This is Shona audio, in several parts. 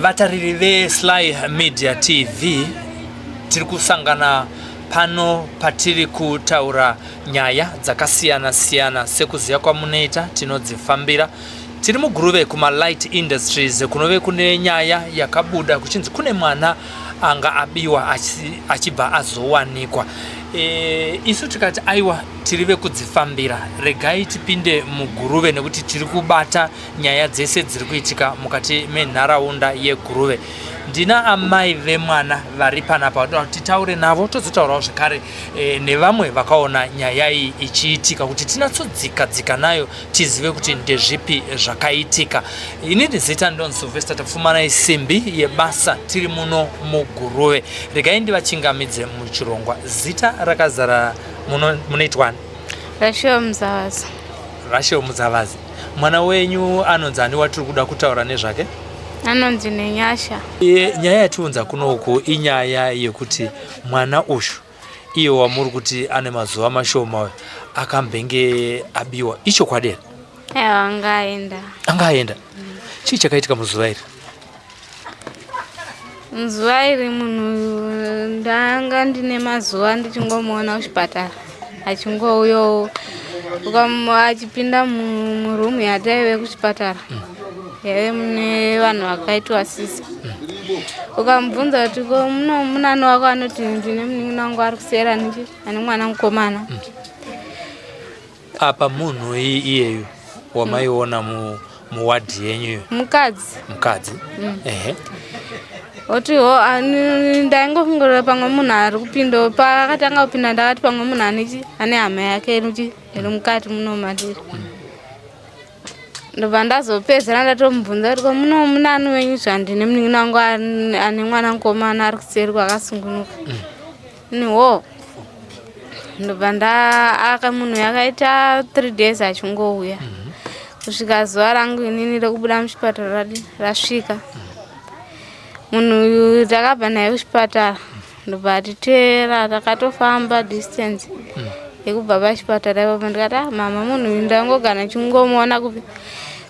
Vatariri veSly Media TV tiri kusangana pano patiri kutaura nyaya dzakasiyana siyana sekuziva kwamunoita tinodzifambira tiri muguruve kumalight industries kunove kune nyaya yakabuda kuchinzi kune mwana anga abiwa achibva azowanikwa e, isu tikati aiwa tiri vekudzifambira regai tipinde muguruve nekuti tiri kubata nyaya dzese dziri kuitika mukati menharaunda yeguruve ndina amai vemwana vari panapa vanoda kuti titaure navo tozotaurawo zvekare e, nevamwe vakaona nyaya iyi ichiitika kuti tinatsodzika dzika nayo tizive kuti ndezvipi zvakaitika ini ndizita ndon silvester tapfumanai simbi yebasa tiri muno muguruve regai ndivachingamidze muchirongwa zita rakazara munoitwani rashel muzavazi rashel muzavazi Mwana wenyu anonzi ani watiri kuda kutaura nezvake? Anonzi Nenyasha. E, nyaya yatiunza kunoku inyaya yekuti mwana uyu iye wamuri kuti ane mazuva mashoma uyu akambenge abiwa ichokwadi here? Ewa anga aenda. Anga aenda. Mm. Chii chakaitika muzuva iri? Nzuva iri munhu ndanga ndine mazuva ndichingomuona kuchipatara achingouyawo achipinda murumu yataive kuchipatara yaive mune vanhu vakaitwa sisa ukamubvunza kuti ko muno munani wako anoti ndine munin'ina wangu ari kusera niki ane mwana mukomana mm. Apa munhu iyeyu wamaiona mu muward yenyu iyo mukadzi mukadzi mm. ehe oti ho ndaingofungirira pamwe munhu ari kupinda paakatanga kupinda ndakati pamwe munhu anei ane hama yake iri mukati muno matiri mm. ndobva ndazopedzera ndatomubvunza kuti komuno munani wenyu zvandine munin'ina wangu ane mwana mukomana ari kuseri kwakasungunuka mm. Nwo ndobva ndaaka munhu yakaita three days achingouya kusvika zuva rangu inini rekubuda muchipatara rasvika munhu uyu takabva naye kuchipatara ndobva atiteera takatofamba distance yekubva pachipatara ipapo ndikati ah, mama munhu uyu ndangogana chingomuona kupi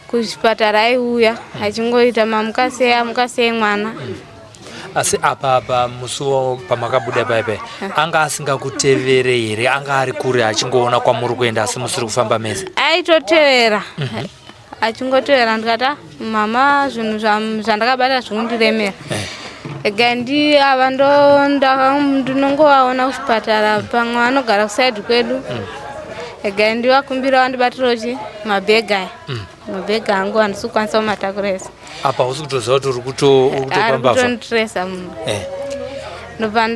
kuchipatara aiuya achingoita mamukasei amukasei mwana asi apa apa musuwo pamakabuda paipai anga asingakutevere here anga ari kure achingoona kwamuri kuenda asi musiri kufamba mese aitotevera mhm. achingotevera ndikati ah, mama zvinhu zvandakabata zvikundiremera eh. ega ndi ava ndinongovaona kuchipatara pamwe vanogara kusaidi kwedu mm. ega ndi vakumbira vandibatirawo chi mabhega aya mm. mabhegi angu handisi kukwanisa kumatakura ese apa hausi kutoziva kuti uri kutopambavatondiresa munhu eh. ndobva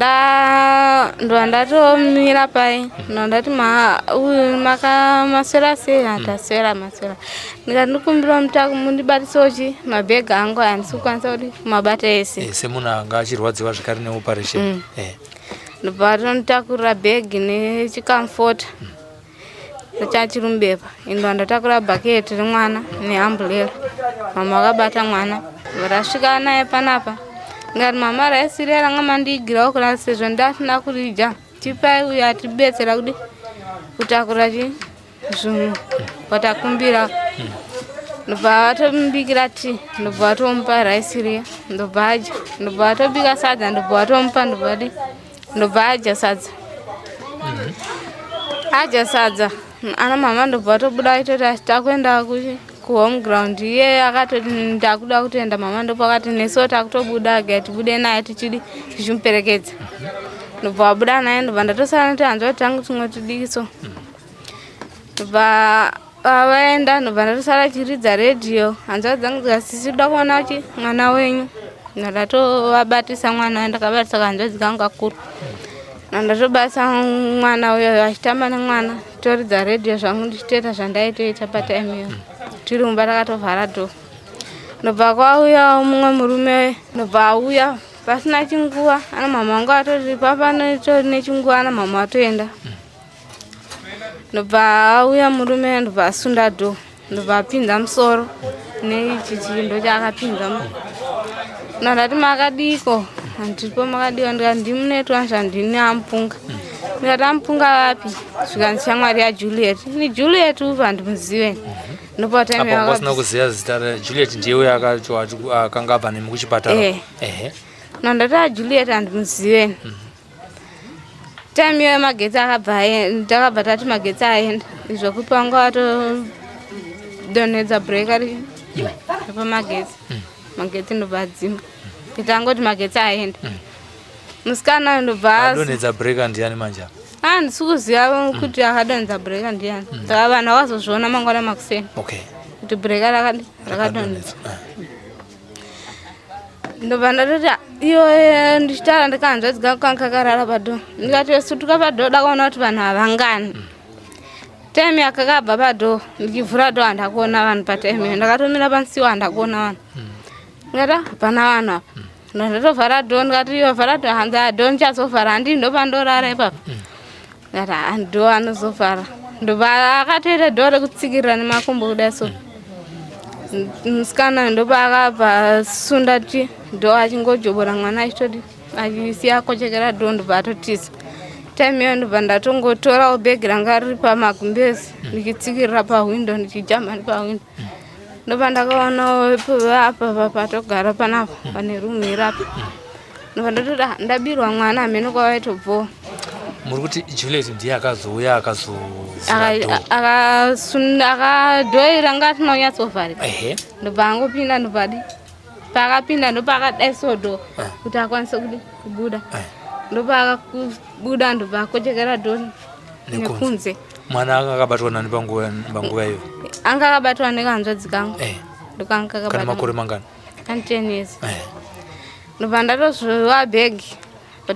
ndatomira pai ndobva ndati maswera sei hataswera maswera ndikati ndikumbira mutaku mundibatisawo chi mabhegi angu handisi kukwanisa kuti kumabata ese eh, semunhu anga achirwadziwa zvekare neoperation mm. eh. ndobva tonitakurira bhegi nechikamfota mm. Ndachiri mubepa ende wandatakura bhaketi remwana neamburera. Mama vakabata mwana varasvika naye panapa ngati mama raisirera nga mandiigirawo kurana sezvo ndasina kurija tipai uyo atibetsera kudi kutakura chi zvinhu watakumbira ndobva vatombikira ti ndobva vatomupa raisiriya ndobva adya ndobva vatobika sadza ndobva vatomupa ndobva di ndobva adya sadza adya sadza ana mama ndobva tobuda aitoti takuenda kuhome ground iye akatoti ndakuda kutoenda mama ndopakati nesu takutobuda ga tibude naye tichidi tichimuperekedza ndobva wabuda naye ndobva ndatosara netohanzva kuti tangu tingotidiki so ndobva Pavaenda anobva ndosara achiridza radio hanzvadzi dzangu dzikati sisi toda kuona kuti mwana wenyu ndatovabatisa mwana uyo ndakabatisa kahanzvadzi kangu kakuru ndatobatisa mwana uyo achitamba nemwana toridza radio zvangu ndichitoita zvandaitoita patime iyo tiri mumba takatovhara do ndobva kwauya mumwe murume ndobva auya pasina chinguva ana mama vangu atori papa netori nechinguva ana mama atoenda ndobva auya murume ndobva asunda do ndobva apinza musoro neichi chindo chaakapinza nandati makadiko andiripo makadiko ndikati ndimunetwanzva ndini amupunga ndikati amupunga vapi zvikanzi shamwari yajuliet ni juliet upi handimuzive ndopataasina kuziva zita rajuliet ndiye uyo akanga abva nemi kuchipatara eh. nandati ajuliet handimuzive mhm. time iyoyo magetsi akabva takabva tati magetsi aenda izvo kupanga watodonhedza breaker pamagetsi mm. magetsi ndobva adzimba kuti angoti magetsi aenda mm. musikana ndobva adonhedza breaker ndiani manje apa handisi ah, kuziva mm. kuti akadonhedza breaker ndiani saka vanhu vakazozviona mangwana makuseni kuti breaker rakadonhedza ah. ndobva ndatoti iyo ndichitaura ndikanzvadzi kangu kanga kakarara pado ndikati vesutuka pado dakaona kuti vanhu havangani time yakakabva pado ndikivhura do handakuona vanhu patime iyo ndakatomira pansiwo handakuona vanhu ndikati ah, hapana vanhu apa ndotovhara do ndikati iyo vhara do hanzi ado ah, ndichazovhara handii ndopandorara ipapa Ara ndo anozovhara. Ndobva akatoita door rekutsikirira nemakumbo kudai so. Musikana ndobva akabva sunda ti door achingojobora mwana achitodi achisiya akochekera door ndobva atotiza. Time iyo ndobva ndatongotorawo bag ranga riri pamagumbezi ndichitsikirira pahwindo ndichijamba nepahwindo. ndopandakaona apa patogara panapa pane rumu iri apa ndobva ndatoda ndabirwa mwana hameno kwavaitobvowa muri kuti juliet ndiye akazouya akazakadhoira ngatinonyatsovharika ndobva angopinda ndobvadi paakapinda ndopaakadai sodo eh. kuti akwanise kudi kubuda eh. ndopaakakubuda ndobaakochekera doni nekunze mwana anga akabatwa nani panguva iyo anga akabatwa nekahanzvadzi kangu eh. ndokangamakore mangani anten years ndopandatozvowa bhegi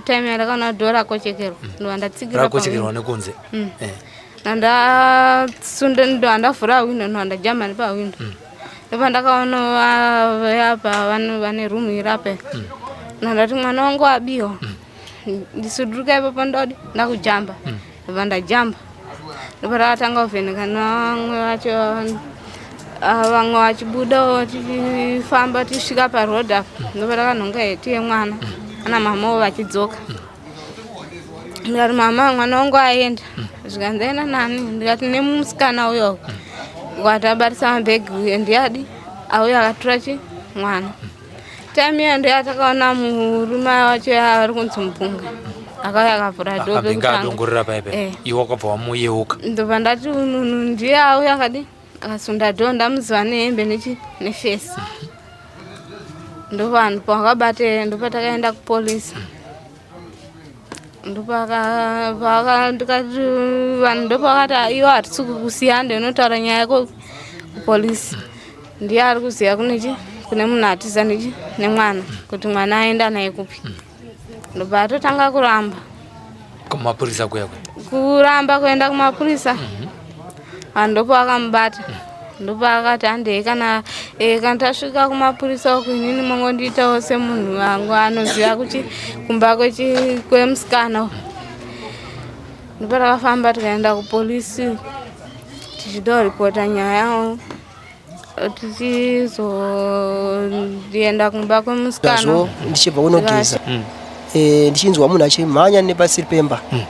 time yandakaona kuti dho rakochekerwa mm. ndova ndatsikira rakochekerwa nekunze mm. eh. ndandasunda ndova ndavhura windo ndova ndajamani pawindo mm. ndopa ndakaona vayapa vane rumu iri apa ndandati mwana wangu abiwa ndisuduruka ipapo ndodi ndakujamba ndobva ndajamba ndobva ndakatanga kuvheneka nevamwe vacho ah, vamwe vachibudawo tichifamba tichisvika paroad apa ndobva ndakanhonga heti yemwana ana mamawo vachidzoka ndikati mama mwana wangu aenda zvikanzi ndaenda nani ndikati nemusikana uyo ukati abatisa mabhegi uye ndiyadi auyo akatura chi mwana time iyo ndiyo yatakaona murume wacho yaari kunzi mupunga akauya akavhura doadongorera paipe eh. iwe wakabva wamuyeuka ndobva ndati ununu ndiye auya akadi akasunda do ndamuziva nehembe nechi nefesi ndovanhu pawakabate ndopatakaenda kupolisi ndopakandikati vanhu ndopakati iwo hatisi kukusiya ndinotaura nyaya yako kupolisi ndiye ari kuziva kunechi kune munhu atiza nechi nemwana kuti mwana aenda naye kupi ndobva atotanga kuramba kumapurisa kuya kuramba kuenda kumapurisa mm -hmm. Ah, ndopakamubata ndopaakati handei kana eh, kana tasvika kumapurisa uku inini mongondiitawo semunhu wangu anoziva kuchi kumba kwechi- kwemusikana uyu. ndipo takafamba tikaenda kupolisi tichida kuripota nyaya yavo tichizoenda kumba kwemusikana ndichibva kunogeza mm. eh, ndichinzwa munhu achimhanya nepasiri pemba mm.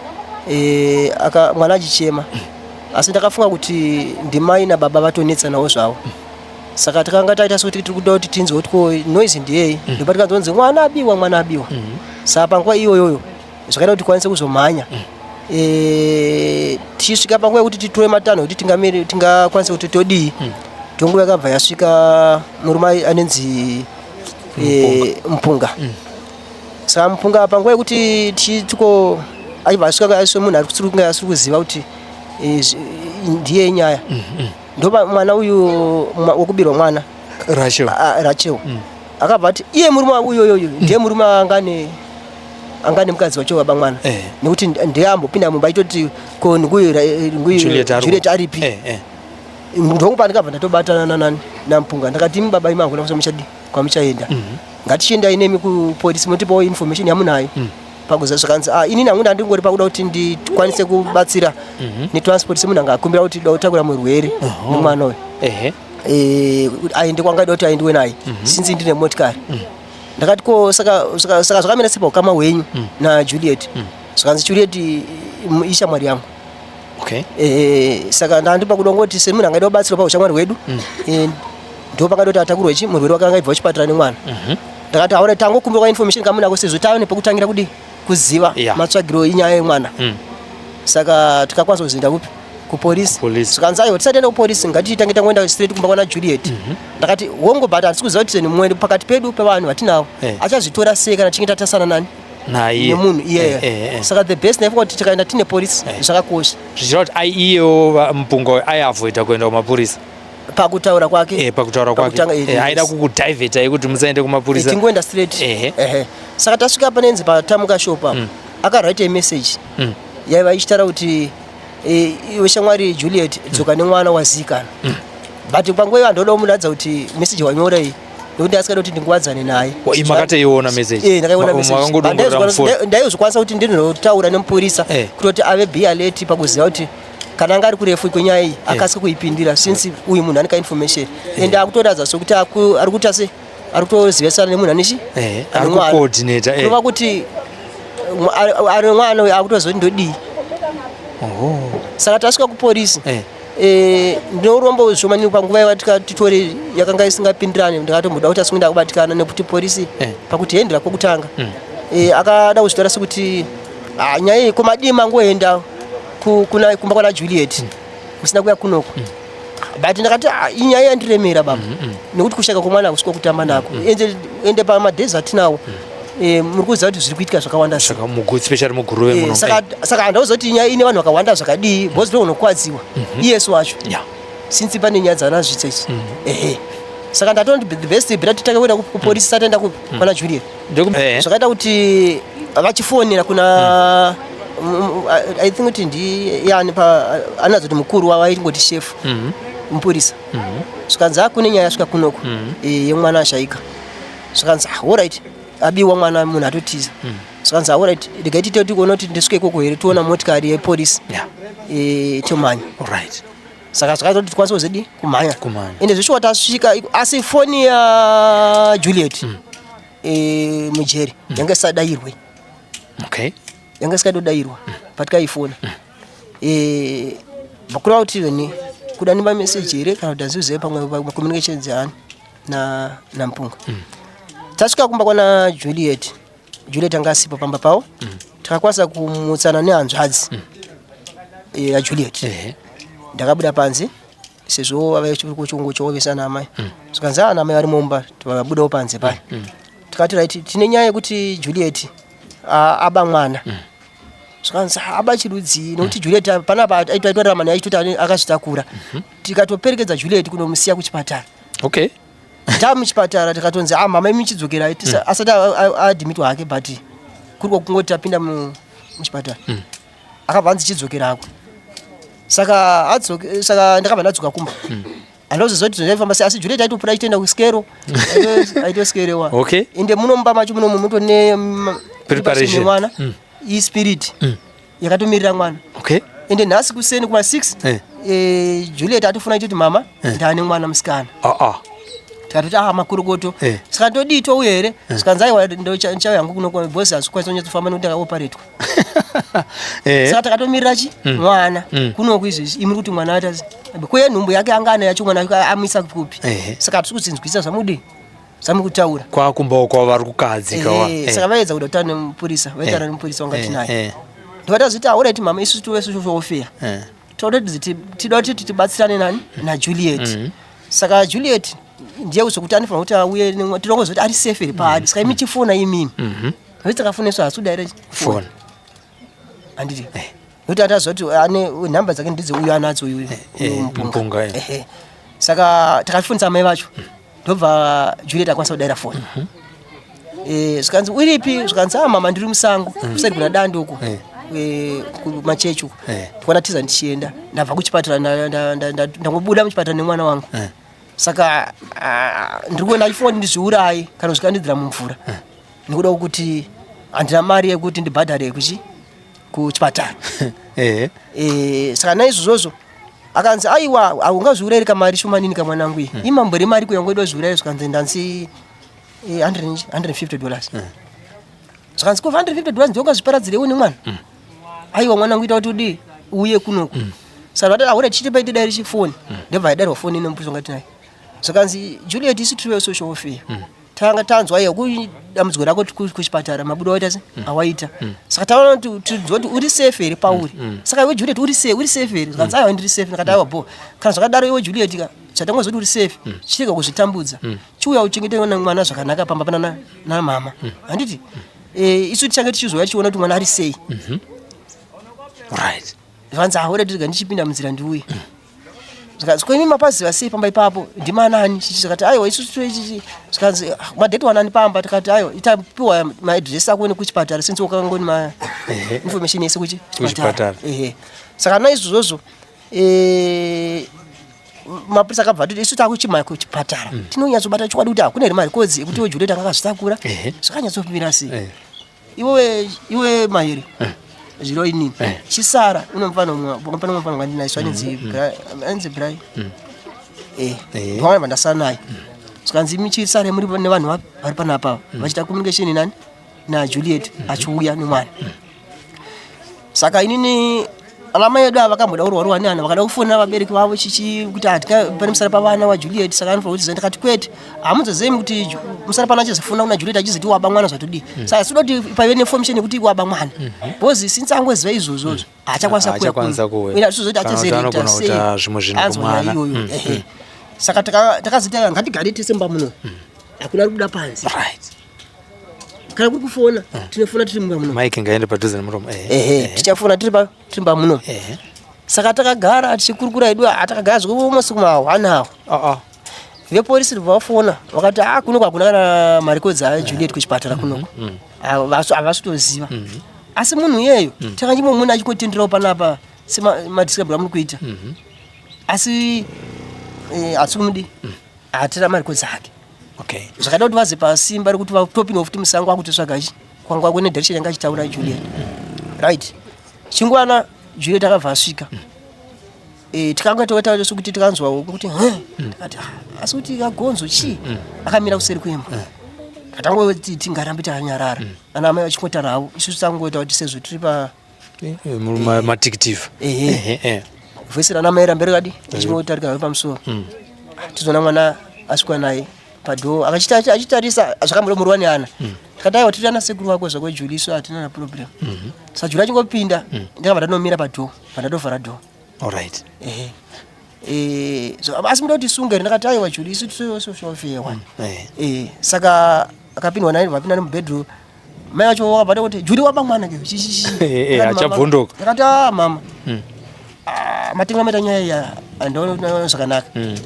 eh, mwana achichema mm. asi ndakafunga kuti ndimai nababa vatonetsanawo zvavo saka takanga taita sekuti tiri kuda kuti tinzwe kuti ko noise ndiyei ndopa tikanzonzi mwana abiwa mwana abiwa saka panguva iyoyoyo zvakaita kuti tikwanise kuzomhanya mm. eh, tichisvika panguva yekuti titore matanho kuti tingakwanise kuti todii mm. tonguva yakabva yasvika murume anenzi eh, mupunga mm. saka mupunga panguva yekuti tituko aibva asvika aiswe munhu arisiri kunge asiri kuziva kuti eh, ndiye nyaya ndopa mwana uyu wekubirwa mwana rachel ah, ah, akabva ati iye murume wangu iyoyoyo ndiye murume angane angane mukadzi wacho baba mwana eh. nekuti ndiye ambopinda mumba itoti ko nguijuliet aripi eh, eh. mndu wangu pandikabva ndatobatana nanani nampunga ndakati imi baba imi hakuna kusa muchadi kwamuchaenda mm -hmm. ngatichiendai nemi kupolisi motipawo information yamunayo mm -hmm. pakuziva zvakanzi ah, inini hangu ndandingori pakuda kuti ndikwanise kubatsira mhm. netransport semunhu anga akumbira kuti da kutakura murwere nemwana uyu eh, aende kwangaida kuti aendiwe naye mhm. since ndine motikari mm. ndakati ko saka zvakamira sepa ukama hwenyu mm. najuliet mm. zvakanzi juliet ishamwari yangu okay. e, saka ndandipa kuda ngoti semunhu angaida kubatsirwa paushamwari hwedu mm. e, ndo pakaita kuti atakurwe chi murwere wake angaibva wachipatara nemwana mm -hmm. ndakati aona tangokumbirwa information kamunako sezvo tave nepekutangira kudi kuziva yeah. matsvagiro inyaya yemwana mm. saka tikakwanisa kuzinda kupi kupolisi zvikanzi aiwa tisati enda kupolisi ngatitange tangoenda straight kumba kwana juliet mhm. ndakati wongo but hatisi kuziva kuti mumwe pakati pedu pevanhu vatinavo eh. achazvitora sei kana tichinge tatasana nani naye nemunhu iye Eh, eh, eh. saka the best naifa kuti tikaenda tine police Eh. zvakakosha zvichireva kuti ai iyewo va- mupunga uyu aiavoida kuenda kumapurisa pakutaura kwake Eh, pakutaura kwake pakutanga, eh, Eh, aida yes. kukudhaivheta yekuti musaende Eh, kumapurisa tingoenda straight Ehe. Ehe. saka tasvika panenzi patamuka shopa akawrite message Mm. yaiva ichitaura kuti eh, iwe shamwari juliet dzoka nemwana wazikana but panguva iyo andoda kumuratidza kuti message wanyora iyi nekuti asikada kuti ndingowadzane naye makataiona mesejimakangodoramdaizokwanisa kuti ndinotaura nemupurisa eh. kutoti ave bialeti pakuziva kuti kana anga ari kurefu kwenyaya iyi eh. akasike kuipindira since eh. uyu munhu anika information and akutoratidza sokuti ari kuita se ari kutozivisana nemunhu anechi anova kuti ari mwana uyo akutozoti ndodii saka tasvika kuporisi Eh, ndine urombo zvishomani panguva yavatika titore yakanga isingapindirane ndakatomboda kuti asikuenda kubatikana nekuti porisi eh. pakuti hendira kwokutanga mm. eh, akada kuzvitaura sekuti ah, nyaya iyi komadii mangoenda kumba kwana juliet mm. musina kuya kunoko mm. but ndakati ah, inyaya yandiremera baba nekuti kushaka kwemwana kusiko kutamba nako ende pamadays atinawo Eh, muri kuziva kuti zviri kuitika zvakawanda especially muguruve eh, muno saka saka handauziva kuti nyaya ine vanhu vakawanda zvakadii because mm. ndounokwadziwa mhm. iyesu wacho since pane nyaya dzanazvitsa ichi mm. ehe saka ndatondi the best beta titange kuenda kupolisi mm. tataenda kwana juliet eh. zvakaita kuti vachifonera kuna i think kuti ndiyani anadzo kuti mukuru wavo aingoti shefu mhm. mupurisa mhm. zvikanzi akune nyaya yasvika kunoku yemwana ashaika zvikanzi ah, orit abiwa mwana munhu atotiza mm. zvikanzi ah, orit regai tite tikuona kuti ndisvike ikoko here tiona mm. motikari yepolisi yeah. e, tomhanya right saka zvakaita kuti tikwanise kuzidi kumhanya ende zvishuwa tasvika asi foni ya juliet mm. e, mujeri mm. yanga isadairwe okay. yanga isikadodairwa mm. patikaifona mm. e, vakura kuti veni kuda nemamesage here kana kuti azivizive pamwe communication dzeani na nampunga mm. tasvika kumba kwana juliet juliet anga asipo pamba pavo mm. takakwanisa kumutsana nehanzvadzi mm. Eh, yajuliet mm. yeah. ndakabuda panze sezvo vave chikungo choovesana amai mm. zvikanzi ana ah, amai vari mumba vakabudawo panze paya mm. mm. tikati right tine nyaya yekuti juliet aba mwana mm zvikanzi haba chirudzii nokuti juliet panapa aitoita ramani aitoti akazvitakura mhm. tikatoperekedza juliet kunomusiya kuchipatara okay tava muchipatara tikatonzi ah mama imi chidzokerai mm. asati adhimitwa hake but kuri kwakungoti tapinda muchipatara mm. akabva anzi chidzokerako saka adzoke saka ndakabva ndadzoka kumba mm. andozoziva kuti zvaifamba sei asi jure taitopura achitoenda kuskero aitoskerewa okay ende muno mumba macho muno muto ne preparation mwana mm. ispirit mm. yakatomirira mwana okay ende nhasi kuseni kuma 6 eh. eh, juliet atofuna chiti mama eh. ndane mwana musikana ah, ah. tikatoti aha makorokoto eh. saka todii touya here eh. sikanzi aiwa ndichauya yangu kuno bhosi hazvikwanisa kunyatsofamba nekuti akaoparetwa eh. saka takatomirira chi mm. mwana mm. kunoku izvezvi imi kuti mwana ata kuye nhumbu yake anga ana yacho mwana amuisa kupi eh. saka hatisi kudzinzwisa zvamudii Samu kutaura. Kwa kumba uko vari kukadzi eh, kawa. Eh, saka vaedza kuda kutaura nemupurisa, vaitaura eh, nemupurisa wanga eh, tinaye. Eh. Ndovata zviti aura iti mama isu tuwe isu tofeya. Eh. Toda kuti tida kuti tibatsirane nani na Juliet. Mm -hmm. Saka Juliet ndiye uzokuti anifana kuti auye tinongozoti ari safe iri paadi mm-hmm. saka imi chifona imimi mm-hmm. vese takafoneswa hasu direct phone anditi eh. nokuti ati aziva kuti ane nhamba dzake ndidze uyu anadzo uyu eh, eh, mupunga saka takafonisa amai vacho mm. ndobva juliet akwanisa kudaira foni mhm. zvikanzi uripi zvikanzi a ah, mama ndiri musango mm. kusati kuna dandi uko kumachechi uko ndikwana tiza ndichienda ndabva kuchipatara ndangobuda muchipatara nemwana wangu saka ah, ndiri kuona ifoni ndizviurayi kana zvikandidzira mumvura nekuda kwekuti handina mari yekuti ndibhadhare kuchi kuchipatara ehe eh saka naizvozvo akanzi aiwa haungazviurayiri kamari shomanini kamwanangu iyi hmm. imambo remari kuya ngoida zviurayiri zvikanzi ndanzi 150 eh, dollars hmm. zvikanzi ko 150 dollars ndiongazviparadzirewo nemwana hmm. aiwa mwana kuita kuti udii uye kunoku mm. saka vatati aure chiti paite dai richifoni mm. ndobva yaidarwa foni ine mupuso ngati naye zvakanzi juliet isi tiriwe social warfare mm. tanga tanzwa iyo kudambudziko rako kuchipatara mabuda waita se mm. awaita mm. saka taona kuti tinzwa kuti uri safe here pauri mm, saka iwe juliet uri safe uri safe here zvikanzi aiwa ndiri safe ndakati aiwa bo kana zvakadaro iwe juliet ka chatangoziva kuti uri safe chirega kuzvitambudza chiuya uchengete mwana zvakanaka pamba pana namama handiti eh, isu tichange tichizouya tichiona kuti mwana ari sei mm-hmm. right zvanzi ahore tirega ndichipinda munzira ndiuye zvikanzi ko imi mapaziva sei pamba ipapo ndimanani chichi zvikati aiwa isu tichichi zvikanzi ah, madheti wanani pamba tikati aiwa itapiwa maadress ako nekuchipatara since wakangoni ma information yese kuchipatara saka naizvozvozvo eh, mapurisa akabva atoti isu takuchimaya kuchipatara mhm. tinonyatsobata chokwadi kuti hakuna here mari kodzi ekuti wejule tanga akazvitakura zvakanyatsomira sei iwe iwe mairi eh. zviro inini eh. chisara unomufana pane mufana wandinaye so anenzi mm, mm. anenzi brai mm. eh, eh. wawana vandasara naye zvikanzi michisare muri nevanhu vapi vari pana apava vachiita communication nani najuliet achiuya nemwana saka inini anamai edu ava vakamboda kurwarwa neana vakada kufonera vabereki vavo chichi kuti hatika pane musara pavana wajuliet saka anofa kuti ndikati kwete hamudzazemi kuti musara pano achizofona kuna juliet achizoti waba mwana zvatodii mm. saka sida kuti paive neinformation yekuti waba mwana mhm. because mm -hmm. since angoziva izvozvozvo mm. haachakwanisa kuuya kuuya tizozoti achazereta sei anzwa iyoyo mm. saka takazoita ngatigare tese mba muno mm. hakuna ari kuda panzi right. kana kuri kufona ah. tinofona tiri mumba muno mike ngaende padhuze nemuromo eh, eh, eh, tichafona tiri mumba muno saka takagara tichikurukura edu atakagara zvekuvo masiku mahwani awo ah, ah. veporisi vafona vakati a kuno kwakuna kana marikodzi ajuliet kuchipatara kunoko mm-hmm, mm-hmm. havasi kutoziva mm-hmm. asi munhu iyeyo mm. takanyimwe mune achikotenderawo panapa semadiscrib amuri kuita asi hatimudi mm. hatira marikodzi ake okay zvakada kuti vaze pasimba rekuti vatopinwa futi musango akutisvaga chi kwanga kune direction yanga achitaura juliet right chingwana juliet akabva asvika mm. Eh, tikanga totaura sokuti tikanzwawo kuti mm. ati ah, asi kuti kagonzo chii mm, akamira kuseri kwemba atangoti tingarambe takanyarara ana amai vachingotara havo isu tisangoita kuti sezvo tiri pa eh, eh, matikitive eh, voisi rana mai ramberi kadi achimotarika have pamusuwa mm. tizoona mwana asvikwa naye padhoo achitarisa zvakamuromorwa neana mm. tikadaiwa tiri ana sekuru vako zvako juli isu hatina na problem mm-hmm. sa juli achingopinda mm. ndakabva ndanomira padhoo pandatovhara dhoo allright ehe Eh, asi muda kuti sunge ndakati aiwa juli isu tisofewa mm, eh. eh, saka akapindwa naye vapinda nemubedroom Mai vacho vakabata kuti Juli waba mwana ke. Eh achabvunduka. Ndakati ah mama. Mm. Ah matinga meta nyaya ya andoona zvakanaka. Mm.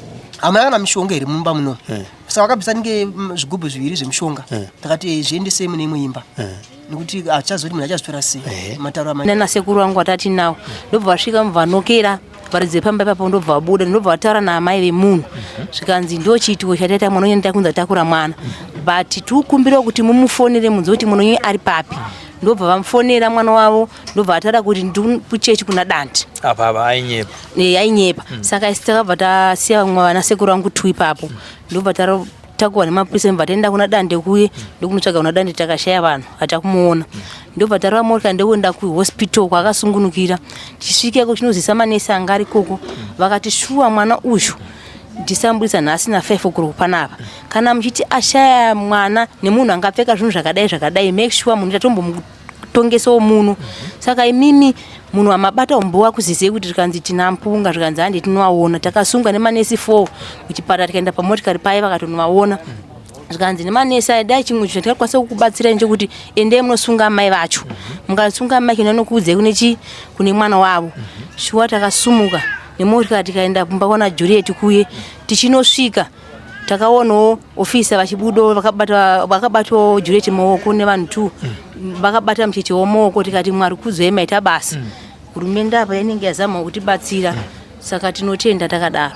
Amai kana mishonga iri mumba muno. Mm. Saka vakabisa nge mm, zvigubhu zviviri zvemishonga. Mm. Ndakati mm. zviendese mune imwe imba. Mm. nekuti achazoti munhu achazvitora sei eh. matauro amai nana sekuru vangu vatati nawo ndobva vasvika mubva vanokera varidzi vepamba ipapo ndobva vabuda ndobva vataura naamai vemunhu mhm. zvikanzi ndo chiitiko chataita mwana unyani takunzi atakura mwana mhm. but tikukumbirawo kuti mumufonere munzi kuti mwana unyani ari papi ah. ndobva vamufonera mwana wavo ndobva vataura kuti ndikuchechi kuna dandi apapa ainyepa e, ainyepa mm. saka takabva tasiya vamwe vana sekuru vangu two ipapo mm. ndobva takuwa nemapurisa imva taenda kuna dande kuye ndokunotsvaga kuna dande takashaya vanhu hatakumuona ndobva tarova morka ndokuenda kuhospital kwaakasungunukira tichisvikeko chinozisa manesi anga ari koko vakati shuwa mwana uyu ndisambuisa nhasi nafive okuro panapa kana muchiti ashaya mwana nemunhu angapfeka zvinhu zvakadai zvakadai make sure munhu tatombomu kutongesawo muno saka imimi munhu amabata umbo wakuzizei kuti rikanzi tina mpunga zvikanzi handi tinovaona takasungwa nemanesi four kuchipatara tikaenda pamotikari paye vakatonovaona zvikanzi nemanesi aya dai chimwe chinhu chatikakwanisa kukubatsirai nechekuti endei munosunga amai vacho mukasunga amai kino anokuudzai kune chii kune mwana wavo shuwa takasumuka nemotikari tikaenda kumba kwana juriyeti kuye tichinosvika takaonawo ofisa vachibudawo vakabatwawo jureti maoko nevanhu two mm. vakabata mucheche wemaoko tikati mwari kudzwai maita basa mm. hurumende apa inenge yazama kutibatsira mm. saka tinotenda takadaro